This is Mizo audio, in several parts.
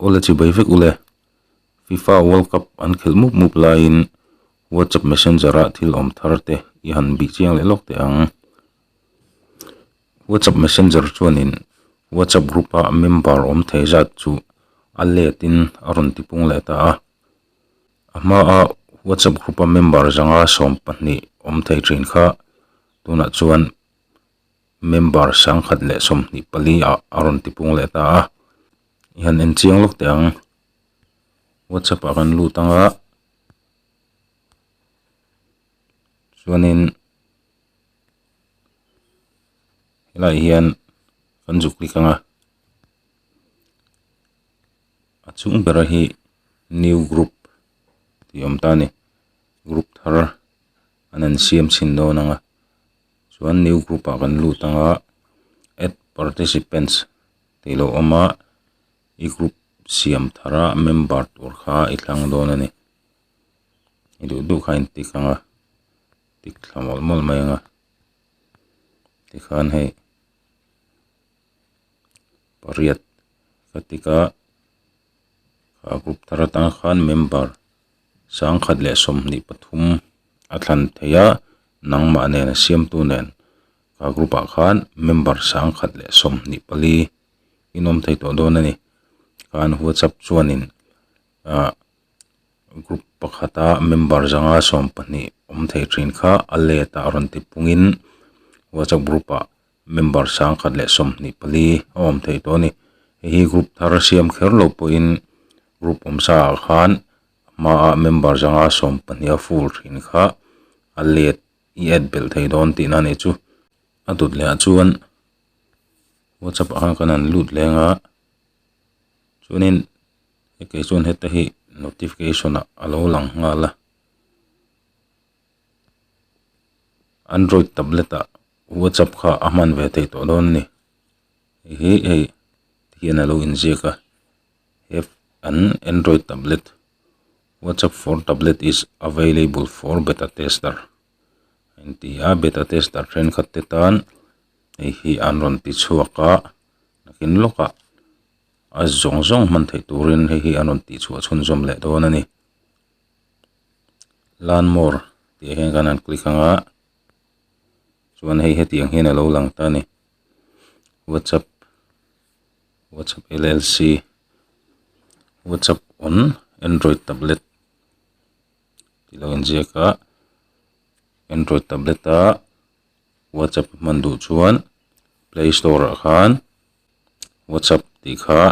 Ule chi bai vek ule. Fifa world cup an khelh mup mup laiin whatsapp messenger ah thil awm thar te i han bih chiang leh lawk teh ang. Whatsapp messenger chuanin whatsapp group ah member awm thei zat chu a let in a rawn ti pung leh ta a. A hma ah whatsapp group a member zanga sawm pahnih awm thei thin kha tunah chuan member sangkhat leh sawmhnih pali a a rawn ti pung leh ta a i han en chiang lawk teh ang whatsapp ah kan lut anga chuanin helaiah hian kan zuk klik anga a chung bera hi new group ni awm ta a ni group thar. an han siam chhin dawn ang a chuan new group ah kan lut ang a add participants tih lo awm a i group siam thar a member tur kha i thlang dawn a ni i duh duh kha a intik ang a tik thla mawlh mawlh mai ang a tikhan hei pariat ka tik a ka group thar atang khan member . Sangkhat leh sawmhnih pathum a thlan thei a, nangmah nen a siamtu nen ka group ah khan member sangkhat leh sawmhnih pali in awm thei tawh dawn a ni. Khan WhatsApp chuanin ah group pakhata member zanga sawm pahnih awm thei thin kha a let ah rawn ti pungin WhatsApp group ah member sang khat leh sawmhnih pali a awm thei tawh a ni hei hi group thar a siam kher loh pawhin group awm sa ah khan a hma a member zanga sawm pahnih a full thin kha a let i add belh thei dawn tih na nih chu a dawt leh ah chuan whatsapp ah khan kan han lut leng a chuanin heti chuan heta hi notification ah a lo lang nghal a. Android tablet ah WhatsApp kha a hman ve thei tawh dawn a ni. Hei hi hei hian a lo in ziak a he an Android tablet WhatsApp for tablet is available for beta tester a in ti a beta tester thenkhat te tan hei hi an rawn ti chhuak a nakin lawk a a zawng zawng hman thei turin hei hi an rawn tih chhuah chhunzawm leh dawn a ni. learn more tih ah hian khan han click ang a chuan hei heti ang hian alo lang ta a ni whatsapp whatsapp llc whatsapp on android tablet tih lo inziak a android tablet a whatsapp hman duh chuan play store ah khan whatsapp tih kha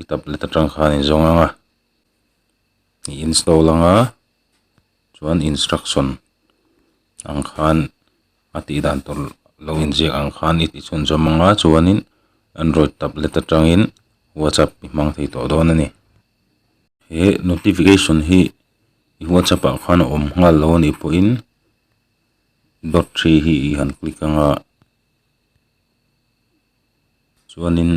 i tablet atang khan in zawng ang a. i install ang a chuan instruction ang khan a tih dan tur lo inziak ang khan i tichhunzawm anga chuanin android tablet atangin whatsapp i hmang thei tawh dawn a ni he notification hi i whatsapp ah khan a awm nghal lo a nih pawhin dot three hi i han click anga chuanin.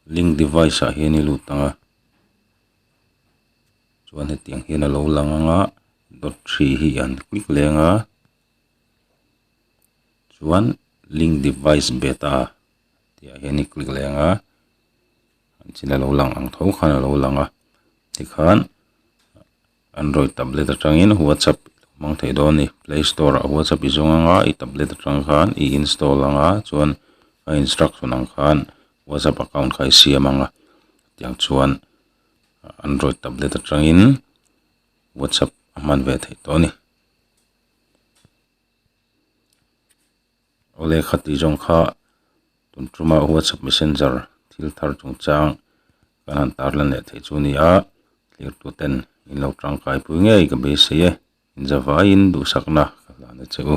link device ah hian i lut ang a chuan hetiang hian a lo lang ang a dot hri hi an click leng a chuan link device beta tih ah hian i click leng a an chin a lo lang ang tho khan a lo lang a tikhan-- Android tablet atangin WhatsApp i lo hmang thei dawn a ni. Play Store ah WhatsApp i zawng anga i tablet atang khan i install anga chuan a instruction ang khan WhatsApp account kha i siam anga tiang chuan Android tablet atangin WhatsApp a hman ve thei tawh a ni. Lekha tih zawng kha tun ṭuma WhatsApp Messenger thil thar chung chang kan han tarlan leh theih chu ni a, tlirtu ten in lo ṭangkai pui ngei ka beisei e, inzavaiin duhsakna ka hlan e che u.